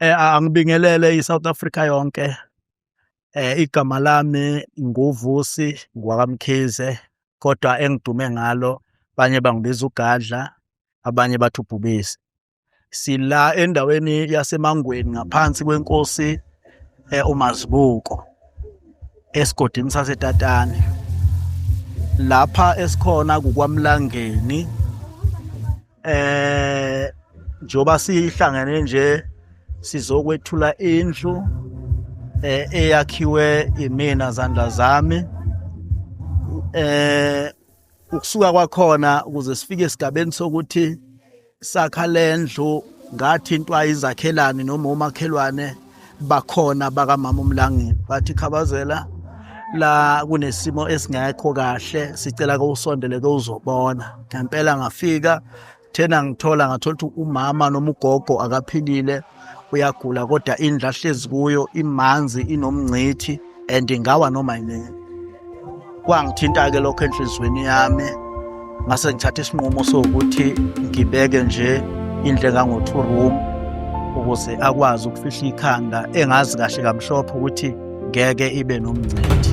Eh, angibingelele i-South Africa yonke. Eh, igama lami nguVusi ngwakamkhize kodwa engidume ngalo abanye bangibiza ugadla abanye bathi ubhubesi. Sila endaweni yaseMangweni ngaphansi kwenkosi eh, uMazibuko esigodini saseTatane. Lapha esikhona kuKwaMlangeni. eh njoba sihlangene nje sizokwethula indlu eh eyakhiwe imina zandla zami eh ukusuka kwakhona ukuze sifike esigabeni sokuthi sakha lendlu ngathintwa izakhelani noma umakhelwane bakhona bakamama umlangeni bathi khabazela la kunesimo esingekho kahle sicela ke usondele ke uzobona ngempela ngafika thena ngithola ngathola ukuthi umama noma ugogo akaphilile uyagula kodwa indlu ahlezi kuyo imanzi inomngcithi and ngawa noma yini kwangithinta ke lokho enhlizweni yami ngase ngithatha isinqumo sokuthi ngibeke nje indle kango two room ukuze akwazi ukufihla ikhanda engazi kahle kamhlophe ukuthi ngeke ibe nomncedi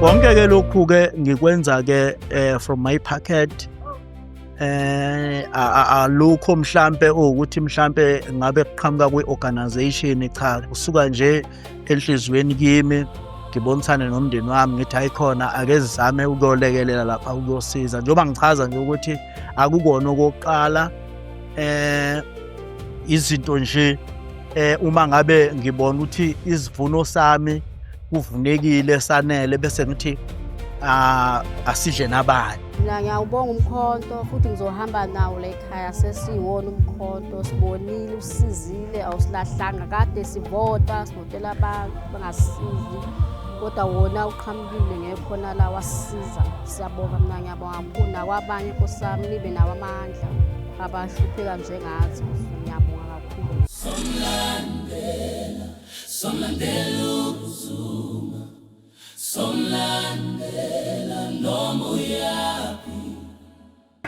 konke ke lokhu ke ngikwenza ke eh, from my pocket eh alukho mhlambe ukuthi mhlambe ngabe kuqhamuka kwi-organization cha kusuka nje enhliziyweni kimi ngibonisane nomndeni wami ngithi ayikhona ake zizame ukuyolekelela lapha ukuyosiza njengoba ngichaza nje ukuthi akukona okokuqala eh izinto nje eh uma ngabe ngibona ukuthi isivuno sami kuvunekile sanele bese ngithi ah, asidle nabanye mina ngiyawubonga umkhonto futhi ngizohamba nawo la ekhaya sesiwona umkhonto sibonile usizile awusilahlanga kade sivota sivotela abantu bangasizi kodwa wona uqhamukile ngekhona la wasisiza siyabonga mina ngiyabonga kakhulu nakwabanye nkosami nibe nawo amandla namuhla abahlupheka njengathi ngiyabonga kakhulu somlandela somlandela uzuma somlandela noma uyaphi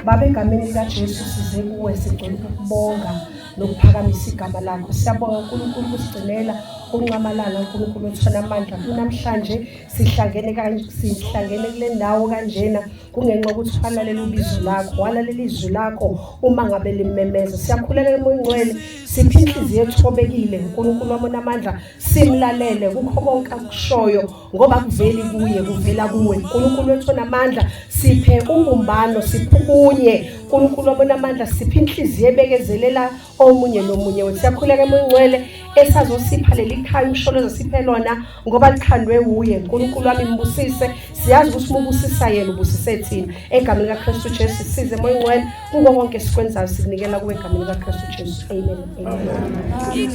Baba egameni likaJesu size kuwe sigcwele ukubonga nokuphakamisa igama lakho siyabonga uNkulunkulu kusigcinela unxamalala uNkulunkulu othona amandla kunamhlanje sihlangene kanje sihlangene kule ndawo kanjena kungenxa ukuthi walalela ubizo lakho walalela izwi lakho uma ngabe limemeza siyakhulekela umoya ingcwele siphe inhliziyo ethobekile uNkulunkulu wamona amandla simlalele kukho konke akushoyo ngoba kuveli kuye kuvela kuwe uNkulunkulu wethu onamandla siphe ubumbano siphukunye uNkulunkulu wamona amandla siphe inhliziyo ebekezelela omunye nomunye wethu siyakhuleka emoya ingcwele esazosipha leli khaya umsholo ezosiphe lona ngoba likhandwe wuye nkulunkulu wami mbusise siyazi ukuthi uma ubusisa yena ubusise thina egameni likakristu jesu size emoya ingcwele kuko konke esikwenzayo sikunikela kuwe egameni likakristu jesu amen, amen. amen.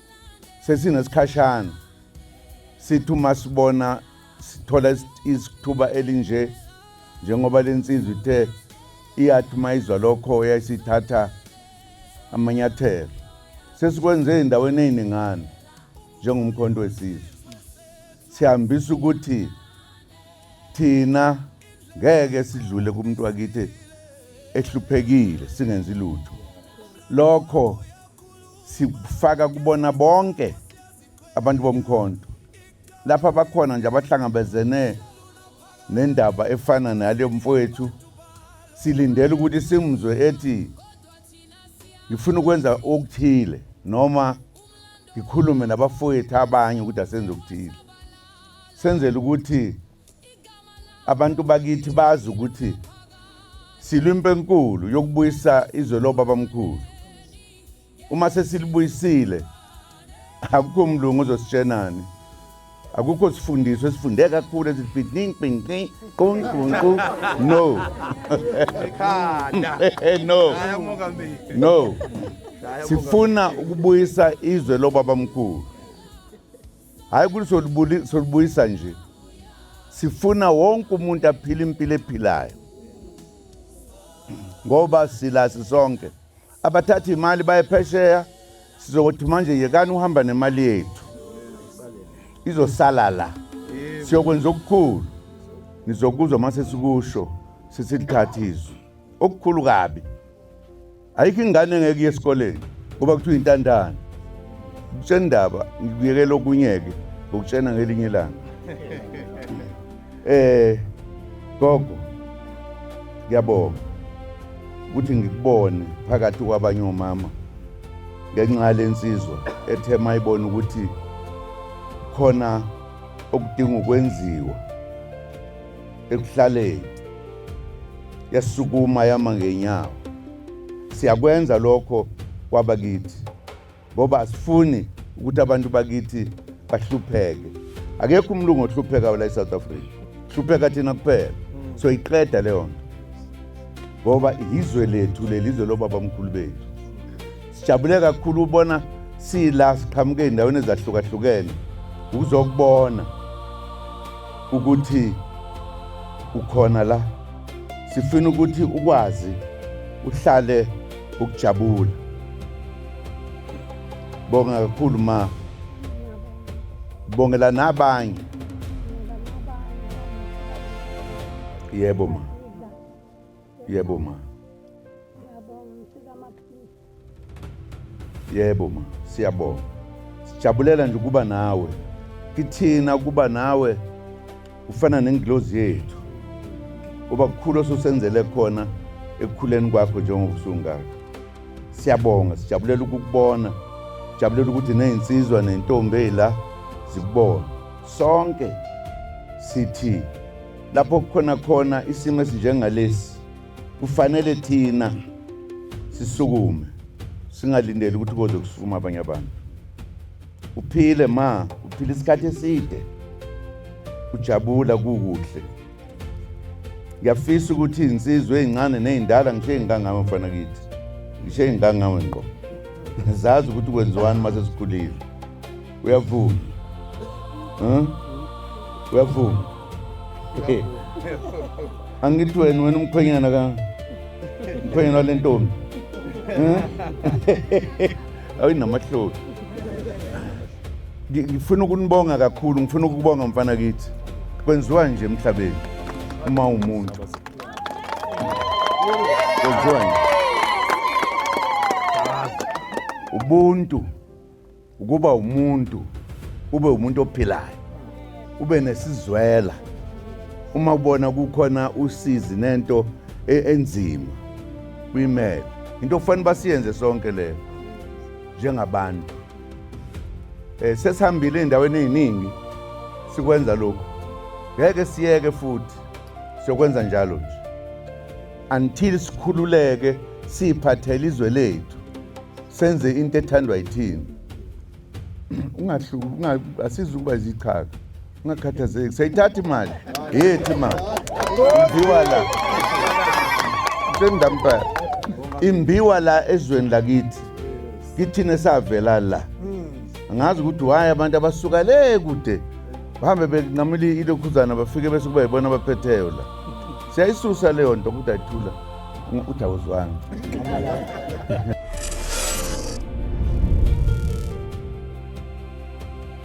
sesinesikhashana sithi uma sibona sithola isithuba elinje njengoba lensizwa ithe iyathi uma izwa lokho yayisithatha amanyathelo sesikwenze endaweni eziningana njengomkhonto wesizwe sihambisa ukuthi thina ngeke sidlule kumuntu wakithi ehluphekile singenzi lutho lokho sifaka kubona bonke abantu bomkhonto lapha bakhona nje abahlangabezene nendaba efana naleyo mfowethu silindele ukuthi simzwe ethi ngifuna ukwenza okuthile noma ngikhulume nabafowethu abanye ukuthi asenze okuthile senzele ukuthi abantu bakithi bazi ukuthi silwa impi enkulu yokubuyisa izwe lobabamkhulu uma sesilibuyisile akukho mlungu uzositshenani akukho sifundiso esifunde kakhulu ezibidning bingqi qunqunqu no no no sifuna ukubuyisa izwe lobabamkhulu Hhayi ukuthi solubuyisa nje. Sifuna wonke umuntu aphile impilo ephilayo. Ngoba sila sisonke. Abathatha imali baye phesheya sizokuthi manje yekani uhamba nemali yethu. Izosala la. Siyokwenza okukhulu. Nizokuzwa mase sikusho sesithatha izwi. Okukhulu kabi. ayikho ingane engeke iye esikoleni ngoba kuthiwa intandane kutshena indaba ngikuyekela okunyeke ngokutshena ngelinye ilanga eh gogo ngiyabonga ukuthi ngikubone phakathi kwabanye omama ngenxa lensizwa ethe mayibona ukuthi khona okudinga ukwenziwa ekuhlaleni yasukuma yama ngenyawo siyakwenza lokho kwaba kithi ngoba asifuni ukuthi abantu bakithi bahlupheke akekho umlungu ohlupheka la eSouth Africa hlupheka thina kuphela mm. so iqeda leyo nto ngoba izwe lethu lelizwe lobaba mkhulu bethu Sijabule kakhulu ubona sila siqhamuke endaweni ezahlukahlukene ukuzokubona ukuthi ukhona la sifuna ukuthi ukwazi uhlale ukujabula bonga kakhulu ma bongela nabanye yebo ma Yebo ma. Yebo ma, siyabonga. Sijabulela nje ukuba nawe. Kithina ukuba nawe ufana nengilozi yethu. Uba kukhulu osusenzele khona ekukhuleni kwakho njengoba usungaka. Siyabonga, sijabulela ukukubona. Sijabulela ukuthi nezinsizwa nentombi ezila zikubona. Sonke sithi Lapho kukhona khona isimo esinjengalesi kufanele thina sisukume singalindeli ukuthi koze kusukuma abanye abantu. Uphile ma, uphile isikhathi eside. Ujabula kukuhle. Ngiyafisa ukuthi insizwe ezincane nezindala ngisho ezingangawe mfana kithi. Ngisho ezingangawe ngqo. Zazi ukuthi kwenziwani mase sikhulile. Uyavuma. Huh? Uyavuma. Okay. Angithi wena wena umkhwenyana ka umkhwenyana wale ntombi. Huh? Awinamahloni. Ngifuna ukunibonga kakhulu, ngifuna ukubonga mfana kithi. Kwenziwa nje emhlabeni uma umuntu. Kwenziwa nje. Ubuntu ukuba umuntu ube umuntu ophilayo ube nesizwela uma ubona kukhona usizi nento e-, enzima kuyimele into okufanele basiyenze sonke leyo njengabantu um sesihambile ey'ndaweni ey'ningi sikwenza lokhu ngeke siyeke futhi siyokwenza njalo nje until sikhululeke siphathele izwe lethu senze into ethandwa yithini asizukuba zichaka ungakhathazeki sayithatha imali yethi imali imbiwa la sendampela imbiwa la ezweni lakithi kithina esavela la angazi ukuthi waye abantu abasuka le kude bahambe benqamula ilokhuzana bafike bese kuba yibona abaphetheyo la siyayisusa leyo nto ukuthi ayithula uthi awuzwanga